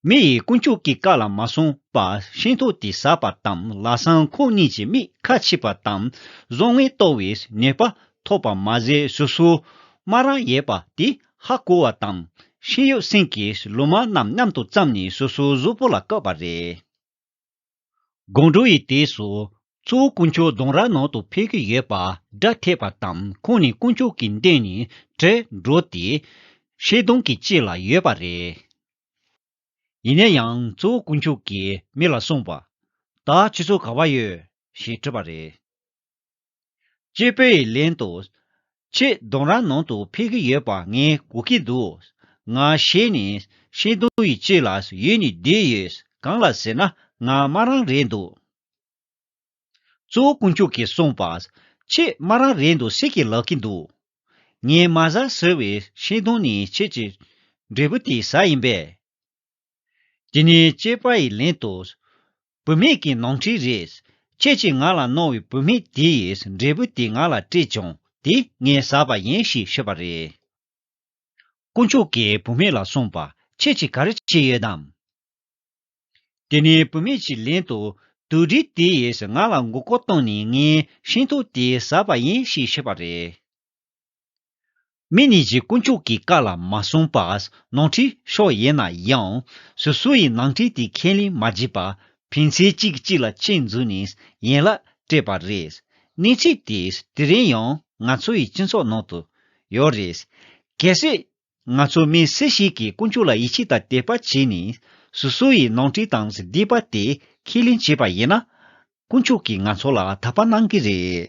མི་ཡིས་དཀོན་མཆོག་གི་བཀའ་ལ་མ་བསྲུངས་པ་ཤིང་ཐོག་དེ་ཟགས་པ་དང་ལ་སང་ཁོང་གཉིས་ཀྱི་མིག་ཁ་ཕྱིས་པ་དང་བཟོ་ངན་ལྟོ་བའི་ཉེས་པ་ཐོབ་པ་མ་ཟད་སོ་སོའི་སྨ་རང་ཡས་པ་དེ་ཧ་གོ་བ་དང་ཤིང་ཡོད་སེང་གེའི་ལུ་མ་རྣམས་མཉམ་དུ་བརྩམས་ནས་སོ་སོའི་གཟུགས་པོ་ལ་བཀོད་པ་རེད། དགོང་དྲོ་ཡི་དུས་སུ། གཙོ་བོ་དཀོན་མཆོག་གདོང་ར་ནང་དུ་ཕེབས་ཀྱི་ཡོད་པ་སྒྲ་ཐོས་པ་དང་ཁོང་ནི་དཀོན་མཆོག་གི་མདུན་ནས་བྲོས་འགྲོ་སྟེ། ཤེལ་སྡོང་གི་དཀྱིལ་ལ་ཡོད་པ་རེད། ཡིན་ན་ཡང་གཙོ་བོ་དཀོན་མཆོག་གིས་མི་ལ་གསུངས་པ། ད་ཁྱོད་ཚོ་ག་བ་ཡོད། ཞེས་དྲིས་པ་རེད། སྤྱི་བོད་ཡིག་ལན་དུ། ཆེད་གདོང་རང་ནང་དུ་ཕེབས་ཀྱི་ཡོད་པ་ངས་གོ་གི་འདུག་ང་ཞེས་ནས་ཤིང་སྡོང་ཡིག་གཅིག་ལ་ཡུལ་ནས་བསྡད་ཡོད་གང་ལ་ཟེར་ན་ང་སྨྲ་རང་རེད་འདུག་གཙོ་བོ་དཀོན་མཆོག་གིས་གསུངས་པ་ཆེད་སྨྲ་རང་རེད་འདུག་ཟེར་གྱི་ལབ་ཀྱི་འདུག་ངས་མ་གཟའ་ཟེར་བའི་ཤིང་སྡོང་ནས་ཁྱེད་ཀྱི་འབྲས་བུ་དེ་གཟའ་ཡིན་པས། འདི་ནི་སྐྱེས་པ་ཡི་ལན་དུ། བུད་མེད་ཀྱི་ནོངས་འཁྲིས་རེད། ཁྱེད་ཀྱིས་ང་ལ་གནོང་བའི་བུད་མེད་དེ་ཡིས་འབྲས་བུ་དེ་ང་ལ་སྤྲད་བྱུང་དེ་ངས་ཟ་བ་ཡིན་ཞེས་ཤོད་པ་རེད། དཀོན་མཆོག་གིས་བུད་མེད་ལ་གསུངས་པ། ཁྱེད་ཀྱིས་ག་རེ་བྱས་ཡོད་དམ། འདི་ནི་བུད་མེད་ཀྱི་ལན་དུ། དུད་འགྲོ་དེ་ཡིས་ང་ལ་མགོ་སྐོར་བཏང་ནས་ངའི་ཤིང་ཐོག་དེ་ཟ་བ་ཡིན་ཞེས་ཤོད་པ་རེད། མི་ནི་གཞི་དཀོན་མཆོག་གི་བཀའ་ལ་མ་སྲུང་པ་ནོར་འཁྲུལ་ཤོས་ཡིན་ན་ཡང། སུ་སུ་ཡིས་ནང་འཁྲིས་དེ་ཁས་ལེན་མ་བགྱིས་པར་ཕན་ཚེ་གཅིག་གིས་གཅིག་ལ་ཆེད་འཛུལ་ནས་ཡན་ལག་སྤྲད་པ་རེད། གནས་ཚུལ་དེས་དེ་རིང་ཡང་ང་ཚོ་ཡི་སྤྱི་ཚོགས་ནང་དུ་ཡོད་རེད། གལ་སྲིད། ང་ཚོ་མི་སུ་ཞིག་གིས་དཀོན་མཆོག་ལ་ཡིད་ཆེས་དང་དད་པ་བྱས་ནས་སུ་སུ་ཡི་ནང་འཁྲིས་དང་བསྡིགས་པ་དེ་ཁས་ལེན་བྱས་པ་ཡིན་ན། དཀོན་མཆོག་གིས་ང་ཚོ་ལ་དག་པ་གནང་གི་རེད།